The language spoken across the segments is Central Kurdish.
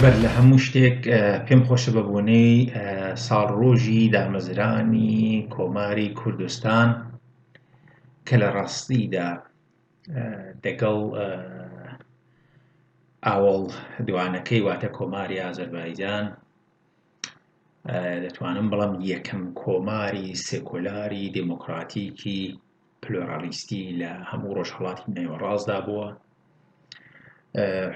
بەر لە هەموو شتێک پێم خۆشە بە بۆنەی ساڵ ڕۆژی دامەزرانی کۆماری کوردستان کە لە ڕاستیدا دەگەڵ ئاوەڵ دوانەکەی واتە کۆماری ئازەربایجان دەتوانم بڵێم یەکەم کۆماری سێکۆلاری دێمۆکڕاتیکی پلۆرالیستی لە هەموو ڕۆژهەڵاتی نێوەڕاستدا بووە.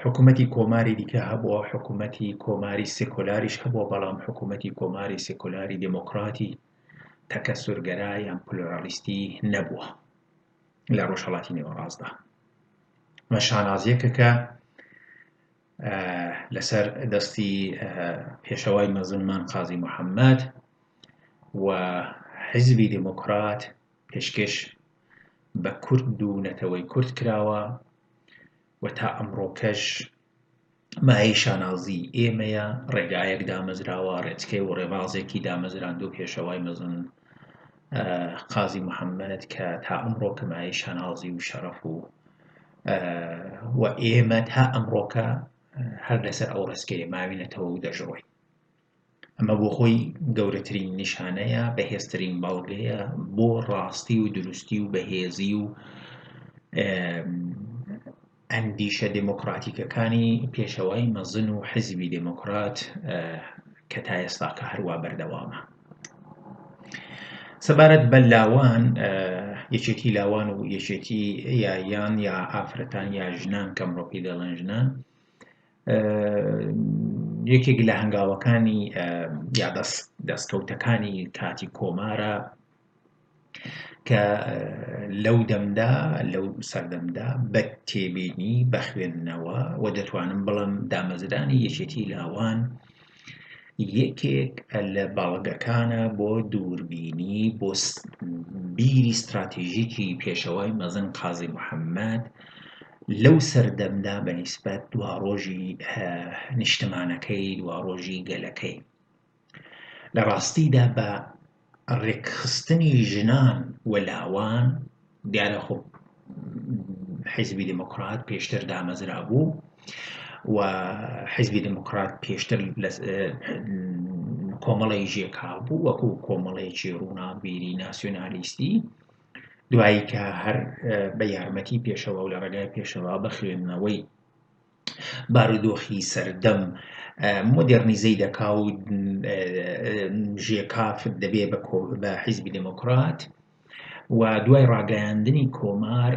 حکوومەتی کۆماری دیکە هەبووە، حکوومەتی کۆماری سێکۆلاریش هەبووە، بەڵام حکوومەتی کۆماری سێکۆلاری دێمۆکڕاتی تەکەسوورگەرا یان پلۆرالیستی نەبووە لە ڕۆژهەڵاتی نێوەڕاستدا. مە شانازییەکە کە لەسەر دەستی پێشەوای مەزنمان قازی محەممەد و حیزبی دموکرات پێشکەش بە کورد و نەتەوەی کورد کراوە و تا ئەمڕۆکەش مایەی شانازی ئێمەیە ڕێگایەک دامەزراوە ڕێچکەی و ڕێبازێکی دامەزراند و پێشەوای مەزن قازی محەمەد کە تا ئەمڕۆکە مایەی شانازی و شەڕەف و و ئێمە تا ئەمڕۆکە هەر لەسەر ئەو ڕستکەیە ماوینەتەوە و دەژڕۆی ئەمە بۆ خۆی گەورەترین نیشانەیە بەهێزترین بەڵگەیە بۆ ڕاستی و دروستی و بەهێزی و ئەندیشە دێمۆکڕاتیکەکانی پێشەوای مەزن و حیزبی دێمۆکڕات کە تا ئێستاکە هەروا بەردەوامە. سەبارەت بە لاوان یەکێتی لاوان و یەکێتی یایان یا ئافرەتان یا ژنان کەمڕۆپی دەڵێن ژنان یەکێک لە هەنگاوەکانی یا دەست دەستکەوتەکانی کاتی کۆمارە کە لەو دەمدا لەو سەردەمدا بە تێبینی بەخوێندنەوە و دەتوانم بڵم دامەزرانی یەکێتی لاوان یەکێک لە باڵگەکانە بۆ دووربینی بۆ بیری استراتیژیکی پێشەوەی مەزن قازی محەممەد لەو سەردەمدا بە نیسبەت دواڕۆژی نیشتمانەکەی دواڕۆژی گەلەکەی لە ڕاستیدا بە ڕێکخستنی ژنان و لاوان دیارە خۆ حیزبی دموکرات پێشتر دامەزرا بوو و حیزبی دموکرات پێشتر کۆمەڵی ژێکا بوو وەکو کۆمەڵێکی ڕووناکبیری ناسیۆنالیستی دوایی کە هەر بە یارمەتی پێشەوە و لە ڕێگای پێشەوە بە خوێندنەوەی بارودۆخی سەردەم مۆدێڕنیزەی دەکا و ژێکاف دەبێ بە حیزبی دێموکرات و دوای ڕاگەیاندنی کۆمار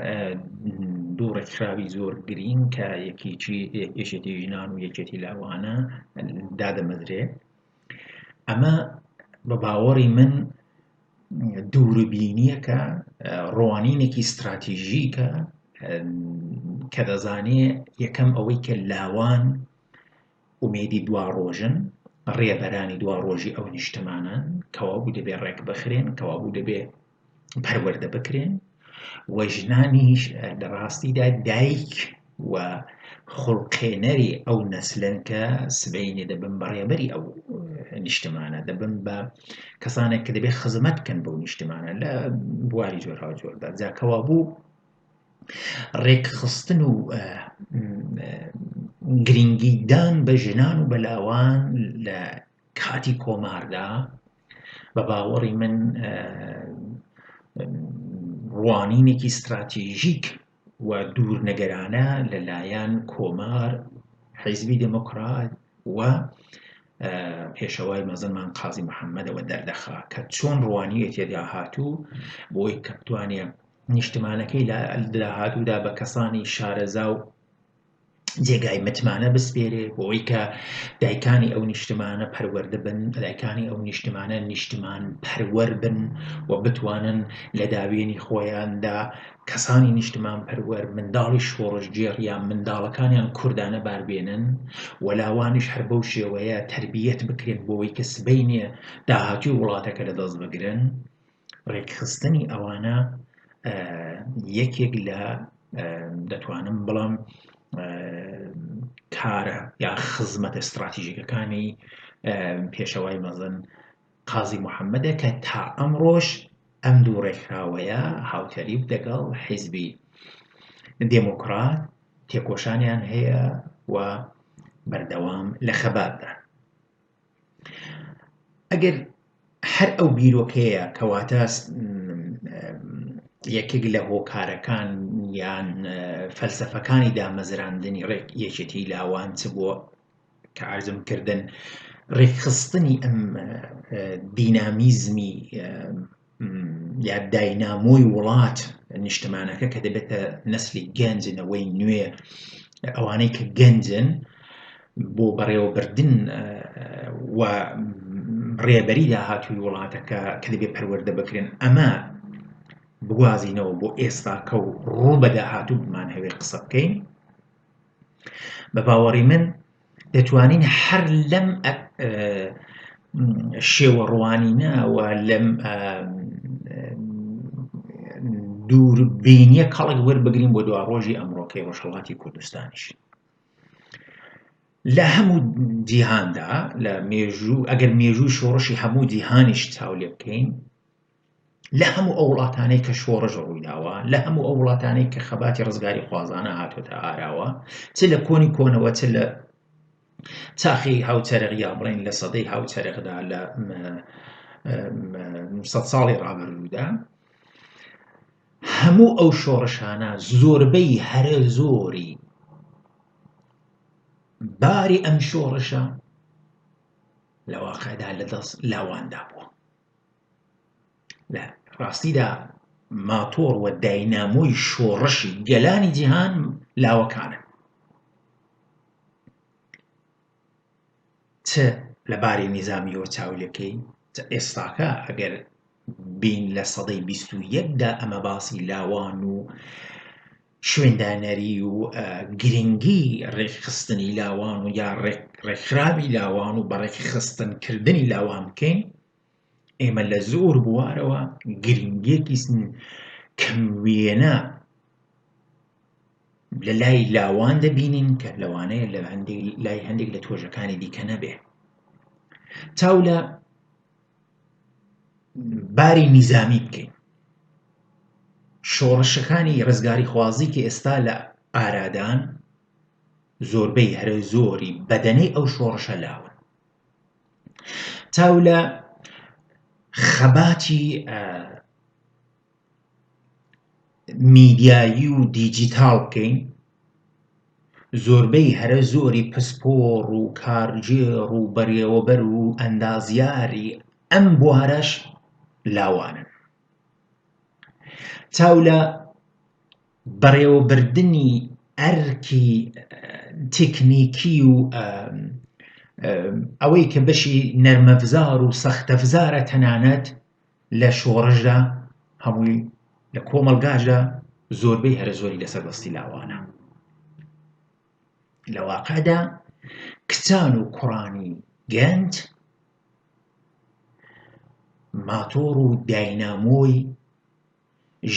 دوو ڕێکخراوی زۆر گرینگ کە یەکێکی یەکێتی ژنان و یەکێتی لاوانە دادەمەزرێ ئەمە بە باوەڕی من دووربینیەکە ڕوانینێکی ستراتیژیکە کە دەزانێ یەکەم ئەوەی کە لاوان ئومێدی دوا ڕۆژن ڕێبەرانی دوا ڕۆژی ئەو نیشتمانان کەوابوو دەبێ ڕێک بخرێن کەوابوو دەبێ پەروەەردە بکرێن و ژنانیش لە ڕاستیدا دایک و خوڵقێنەری ئەو نەسلن کە سبەینێ دەبن بە ڕێبەری ئەو نیشتمانە دەبن بە کەسانێک کە دەبێت خزمەت بکەن بەو نیشتمانە لە بواری جۆراوجۆردا جاکەوا بوو ڕێکخستن و گرنگیدان بە ژنان و بەلاوان لە کاتی کۆماردا بە باوەڕی من ڕوانینێکی ستراتیژیک و دوورنەگەرانە لەلایەن کۆمار حیزبی دموکرات و پێشەوای مەزنمان قازی محەممەدەوە دەردەخا کە چۆن ڕوانیە تێدا هاتوو بۆی کە بتوانێت نیشتمانەکەی لە داهاتوودا بە کەسانی شارەزا و جێگای متمانە بسپێرێ بۆ ئەوی کە دایکانی ئەو نیشتمانە پەروەەردە بن دایکانی ئەو نیشتمانە نیشتمان پەروەەر بن و بتوانن لە داوێنی خۆیاندا کەسانی نیشتمان پەروەەر منداڵی شۆڕشگێڕ یان منداڵەکانیان کوردانە باربێنن وەلاوانش هەر بەو شێوەیە تربیەت بکرێن بۆەوەی کە سبینێ داهاتوی وڵاتەکە لە دەست بگرن ڕێکخستنی ئەوانە یەکێک لە دەتوانم بڵام کارە یا خزمەتە استراتیژیکەکانی پێشەوای مەزن قازی محەممەدە کە تا ئەمڕۆژ ئەم دوو ڕێکخراوەیە هاوتەریب دەگەڵ حیزبی دێموکرات تێکۆشانیان هەیە و بەردەوام لە خەباتدا ئەگەر هەر ئەو بیرۆکەیە کەواتە یەکێک لە هۆکارەکان یان فەلسەفەکانی دامەزراندنی ڕێک یەکێتی لاوان چ بۆ کە ئارزم کردن ڕێکخستنی ئەم دینامیزمی یا داینامۆی وڵات نیشتمانەکە کە دەبێتە نەسلی گەنج نەوەی نوێ ئەوانەی کە گەنجن بۆ بەڕێوەبردن و ڕێبەری داهاتووی وڵاتەکە کە دەبێ پەروەەردە بکرێن ئەمە بگوازینەوە بۆ ئێستاکە و ڕوو بە داهاتوو بمان هەوێ قسە بکەین بە باوەڕی من دەتوانین هەر لەم شێوە ڕوانینە و لەم دوور بینیە کەڵک وەربگرین بۆ دوا ڕۆژی ئەمڕۆکەی ڕۆژهڵاتی کوردستانیش لە هەموو جیهاندا لە مێژوو ئەگەر مێژوو شۆڕشی هەموو جیهانیش چاو لێ بکەین لە هەموو ئەو وڵاتانەی کە شۆڕش ڕوویداوە، لە هەموو ئەو وڵاتانەی کە خەباتی ڕزگاریخوازانە هاتۆتە ئاراوە، چ لە کۆنی کۆنەوە چ لە چاخی هاوچەرخ یا بڵێن لە سەدەی هاوچەرخدا لە سەد ساڵی ڕابردوودا هەموو ئەو شۆڕشانە زۆربەی هەرە زۆری باری ئەم شۆڕشە لە واقعدا لە دەست لاواندا بووە لە ڕاستیدا ماتۆڕ و داینامۆی شۆڕشی گەلانی جیهان لاوەکانە چ لە باری نیزامیەوە چاولەکەی ئێستاکە ئەگەر بین لە سەدەی بیست و یەکدا ئەمە باسی لاوان و شوێندانەری و گرنگی ڕێکخستنی لاوان و یا ڕێکخراوی لاوان و بەڕێکخستنکردنی لاوان بکەین ئێمە لە زۆر بوارەوە گرنگیەکی کەم وێنە لە لای لاوان دەبینین کە لەوانەیە لە لای هەندێک لە تۆژەکانی دیکە نەبێ چاو لە باری نیزامی بکەین شۆڕشەکانی ڕزگاری خوازی کە ئێستا لە ئارادان زۆربەی هەرە زۆری بەدەنەی ئەو شۆڕشە لاون تاو لە خەباتی میدیایی و دیجیتاڵ بکەین زۆربەی هەرە زۆری پسپۆڕ و کارگێڕ و بەڕێوەبەر و ئەندازیاری ئەم بوارەش لاوانن چاو لە بەڕێوەبردنی ئەرکی تکنیکی و ئەوەی کە بەشی نەرمەفزار و سەختەفزارە تەنانەت لە شۆڕشدا هەمووی لە کۆمەلگاشدا زۆربەی هەرە زۆری لەسەر بەستی لاوانە لە واقعدا کچان و کوڕانی گەنج ماتۆڕ و داینامۆی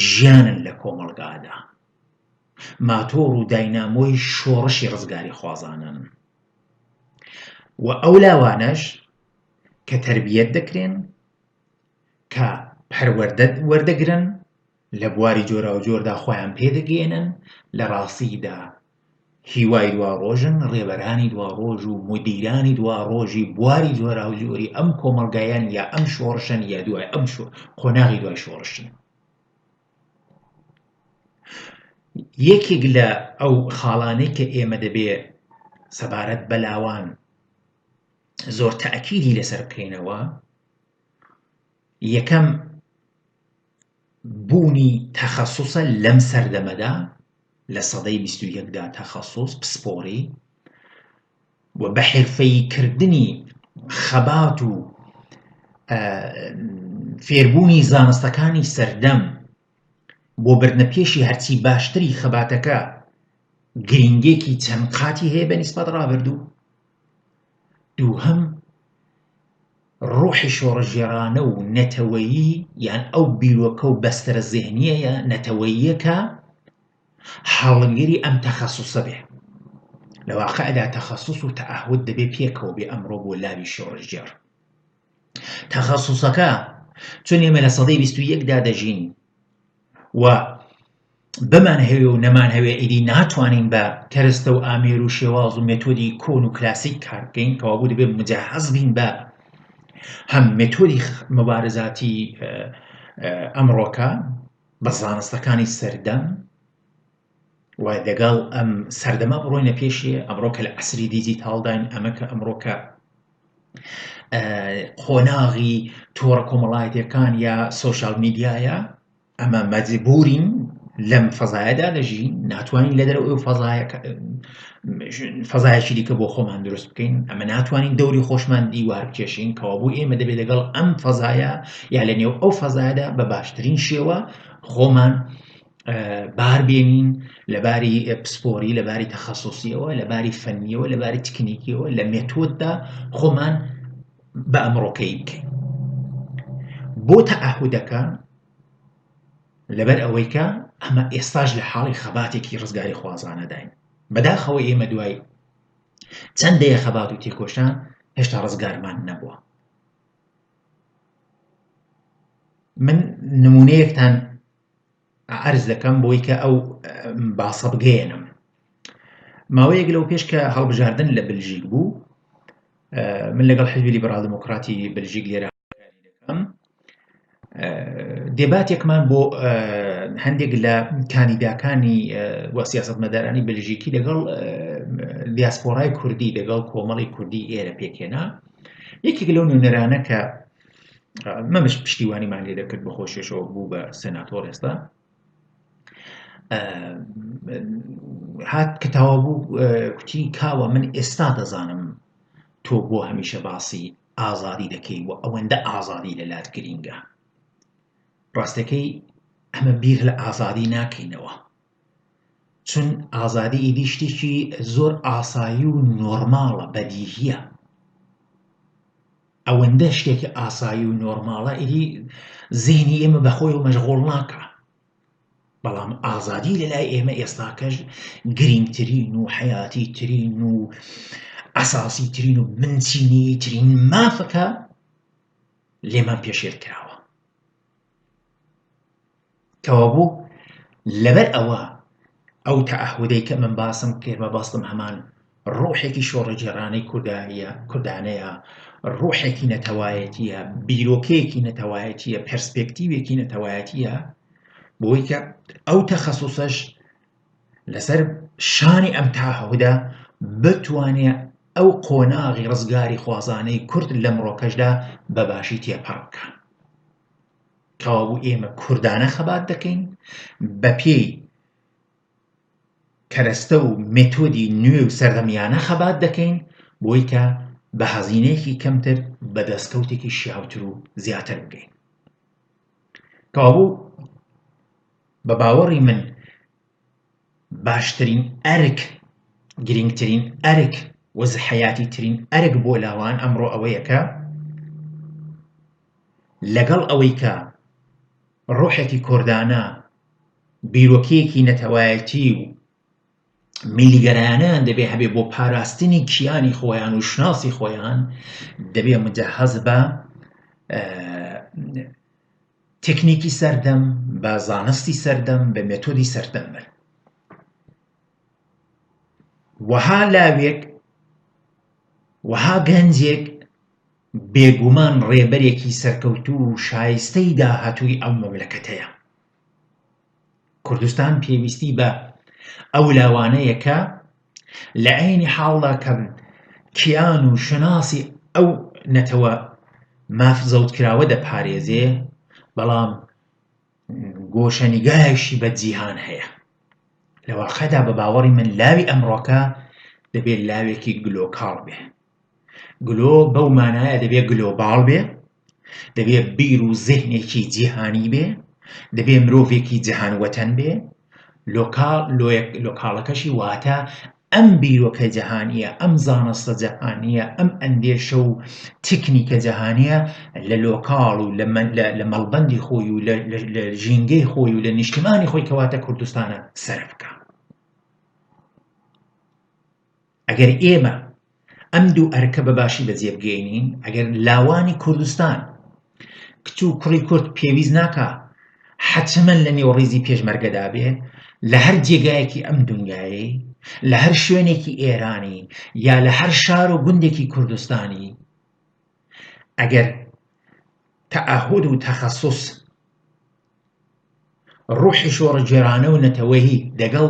ژیانن لە کۆمەڵگادا، ماتۆڕ و داینامۆی شۆڕشی ڕزگاریخوازانەن و ئەو لاوانەش کە تەربیەت دەکرێن، کە پەروەردە وەردەگرن، لە بواری جۆراوجۆردا خۆیان پێدەگەیەنن، لە ڕاستییدا هیوای دواڕۆژن ڕێبەرانی دواڕۆژ و مودیرانی دواڕۆژی بواری جۆراوجۆری ئەم کۆمەڵگایەن یا ئەم شۆڕشەن یا دوای ئەم قۆناغی دوای شۆڕشن یەکێک لە ئەو خاڵانەی کە ئێمە دەبێ سەبارەت بەلاوان زۆر تاکیدی لەسەر بکەینەوە یەکەم بوونی تەخەسوسە لەم سەردەمەدا لە سەدەی بیست و یەکدا تەخەسوس پسپۆڕی و بە حرفەیی کردنی خەبات و فێربوونی زانستەکانی سەردەم بۆ بردنە پێشی هەرچی باشتری خەباتەکە گرنگێکی چەند قاتی هەیە بە نیسبەت ڕابردوو دووهەم ڕۆحی شۆڕشگێڕانە و نەتەوەیی یان ئەو بیرۆکە و بەستەرە زێهنییە نەتەوەییە کە هەڵگری ئەم تەخەسوسە بێ. لە واقعدا تەخەسوس و تەعەهود دەبێ پێکەوە بێ ئەمڕۆ بۆ لاوی شۆڕشگێڕ. تەخەسوسەکە چون ئێمە لە سەدەی بیست و یەکدا دەژین و بمانهەوێ و نەمانهەوێ ئیدی ناتوانین بە کەرەستە و ئامێر و شێواز و مێتۆدی کۆن و کلاسیک کار بکەین کەوابوو دەبێت مجهز بین بە هەم مێتۆدی مبارزاتی ئەمڕۆکە بە زانستەکانی سەردەم و لەگەڵ ئەم سەردەما بڕۆینە پێشێ ئەمڕۆ کە لە عسری دیجیتاالداین ئەمە کە ئەمڕۆکە قۆناغی تۆڕە کۆمەڵایەتەکان یا سوۆشال میدیایە ئەمە مەجبورین لەم فەزایەدا دەژین ناتوانین لە دەرەوە ئەو فەزایەکی دیکە بۆ خۆمان دروست بکەین ئەمە ناتوانین دەوری خۆشمان دیوار بکێشین کەوا بوو ئێمە دەبێت لەگەڵ ئەم فەزایە یا لە نێو ئەو فەزایدا بە باشترین شێوە خۆمان بار بێنین لەباری پسپۆری لەباری تەخصصیەوە لەباری فەنیەوە لەباری تکنیکیەوە لە مێتۆددا خۆمان بە ئەمڕۆکەی بکەین بۆ تەعهودەکە لەبەر ئەوەی کە ئەمە ئێستاش لە حاڵی خەباتێکی ڕزگاری خوازانەداین بەداخەوە ئێمە دوای چەند دەیە خەبات و تێکۆشان هێشتا ڕزگارمان نەبووە من نمونەیەکتان عەرز دەکەم بۆی کە ئەو باسە بگەیەنم ماوەیەک لەو پێش کە هەڵبژاردن لە بلژیک بوو من لەگەڵ حزبی لیبرال دموکراتی بلژیک لێرە دەکەم دێباتێکمان بۆ هەندێک لە کاندیداکانی و سیاست مەدارانی بلژیکی لەگەڵ دیاسپۆرای کوردی لەگەڵ کۆمەڵی کوردی ئێرە پێکێنا یەکێک لەو نوێنەرانە کە مەمش پشتیوانیمان لێ دەکرد بە خۆشیشەوە بوو بە سناتۆر ئێستا هات کە تاوا بوو کوتی کاوە من ئێستا دەزانم تۆ بۆ هەمیشە باسی ئازادی دەکەی و ئەوەندە ئازادی لە لات گرینگە ڕاستەکەی ئەمە بیر لە ئازادی ناکەینەوە چون ئازادی ئیدی شتێکی زۆر ئاسایی و نۆرماڵە بەدیهیە ئەوەندە شتێکی ئاسایی و نۆرماڵە ئیدی زینی ئێمە بەخۆی و مەشغۆڵ ناکە بەڵام ئازادی لەلای ئێمە ئێستاکەش گرنگترین و حیاتی ترین و ئەساسی ترین و بنچینی ترین مافەکە لێمان پێشێل کراوە کەوابوو لەبەر ئەوە ئەو تەعەهودەی کە من باسم کرد مەبەستم هەمان ڕوحێکی شۆڕەگێڕانەی کوردایە کوردانەیە ڕوحێکی نەتەوایەتیە بیرۆکەیەکی نەتەوایەتیە پرسپێکتیوێکی نەتەوایەتیە بۆی کە ئەو تەخەسوسەش لەسەر شانی ئەم تاهودا بتوانێت ئەو قۆناغی ڕزگاری خوازانەی کورد لە مڕۆکەشدا بەباشی تێپەڕ بکە کەوابوو ئێمە کوردانە خەبات دەکەین بەپێی کەرەستە و مێتۆدی نوێ و سەردەمیانە خەبات دەکەین بۆی کە بە هەزینەیەکی کەمتر بە دەستکەوتێکی شیاوتر و زیاتر بگەین کەوابوو بە باوەڕی من باشترین ئەرک، گرینگترین ئەرک و زحەیاتی ترین ئەرک بۆ لاوان ئەمڕۆ ئەوەیە کە لەگەڵ ئەوەی کە ڕۆحێکی کوردانە، بیرۆکەیەکی نەتەوایەتی و میللیگەرایانەیان دەبێ هەبێ بۆ پاراستنی کیانی خۆیان و شوناسی خۆیان، دەبێ مجهز بە تکنیکی سەردەم بە زانستی سەردەم بە مێتۆدی سەردەم بەر وەها لاوێک وەها گەنجێک بێگومان ڕێبەرێکی سەرکەوتوو و شایستەی داهاتووی ئەو مەملەکەتەیە کوردستان پێویستی بە ئەو لاوانەیە کە لە عینی حاڵدا کە کیان و شەناسی ئەو نەتەوە ماف زەوتکراوە دەپارێزێ بەڵام گۆشەنیگایشی بە جیهان هەیە لە واقعدا بە باوەڕی من لاوی ئەمڕۆکە دەبێت لاوێکی گلۆکاڵ بێ گلۆ بەو مانایە دەبێت گلۆباڵ بێ دەبێ بیر و زهنێکی جیهانی بێ دەبێ مرۆڤێکی جیهان وەتەن بێ لۆکاڵەکەشی واتە ئەم بیرۆکە جیهانیە ئەم زانستە جیهانیە ئەم ئەندێشە و تکنیکە جیهانیە لە لۆکاڵ و لە مەڵبندی خۆی و لە ژینگەی خۆی و لە نیشتمانی خۆی کەواتە کوردستانە سەر بکە ئەگەر ئێمە ئەم دوو ئەرکە بە باشی بەجێ بگەینین ئەگەر لاوانی کوردستان کچ و کوڕی کورد پێویست ناکا حەچەمەن لە نێو ڕیزی پێشمەرگەدا بێ لە هەر جێگایەکی ئەم دنیایەی لە هەر شوێنێکی ئێرانی یا لە هەر شار و گوندێکی کوردستانی ئەگەر تەعهود و تەخصص ڕوحی شۆڕە جێرانە و نەتەوەیی دەگەڵ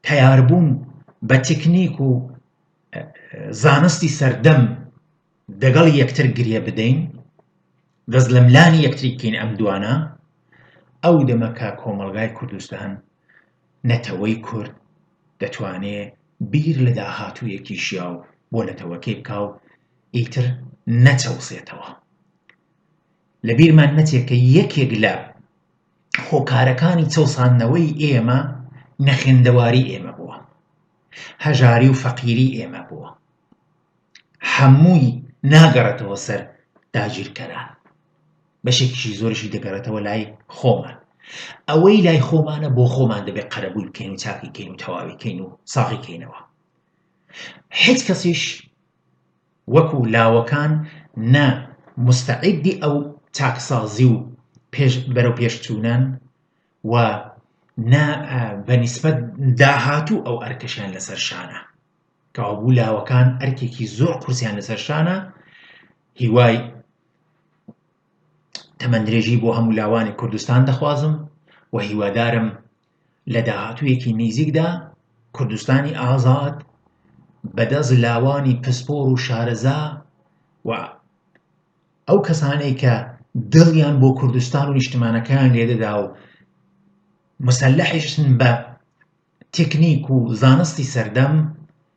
تەیاربوون بە تکنیک و زانستی سەردەم دەگەڵ یەکتر گرێ بدەین دەست لە ملانی یەکتری بکەین ئەم دوانە ئەو دەمەکە کۆمەلگای کوردستان نەتەوەی کورد دەتوانێ بیر لە داهاتوویەکی شیاو بۆ نەتەوەکەی بکا و ئیتر نەچەوسێتەوە لە بیرمان نەچێت کە یەکێک لە هۆکارەکانی چەوساندنەوەی ئێمە نەخوێندەواری ئێمە بووە هەژاری و فەقیری ئێمە بووە هەمووی ناگەڕێتەوە سەر داگیرکەران بەشێکیشی زۆرشی دەگەڕێتەوە لای خۆمان ئەوەی لای خۆمانە بۆ خۆمان دەبێت قەرەبووی بکەین و چاکی کەین و تەواوی کەین و ساغی کەینەوە هیچ کەسیش وەکو لاوەکان نە موستەعیدی ئەو چاکسازی و پێش بەرەوپێشچوونەن و نە بە نیسبەت داهاتوو ئەو ئەرکەشیان لەسەر شانە. کەوابوو لاوەکان ئەرکێکی زۆر قورسیان لەسەر شانە هیوای تەمەندرێژی بۆ هەموو لاوانی کوردستان دەخوازم و هیوادارم لە داهاتوویەکی نیزیکدا کوردستانی ئازاد بە دەست لاوانی پسپۆر و شارەزا و ئەو کەسانەی کە دڵیان بۆ کوردستان و نیشتمانەکەیان لێدەدا و مسلحشن بە تکنیک و زانستی سەردەم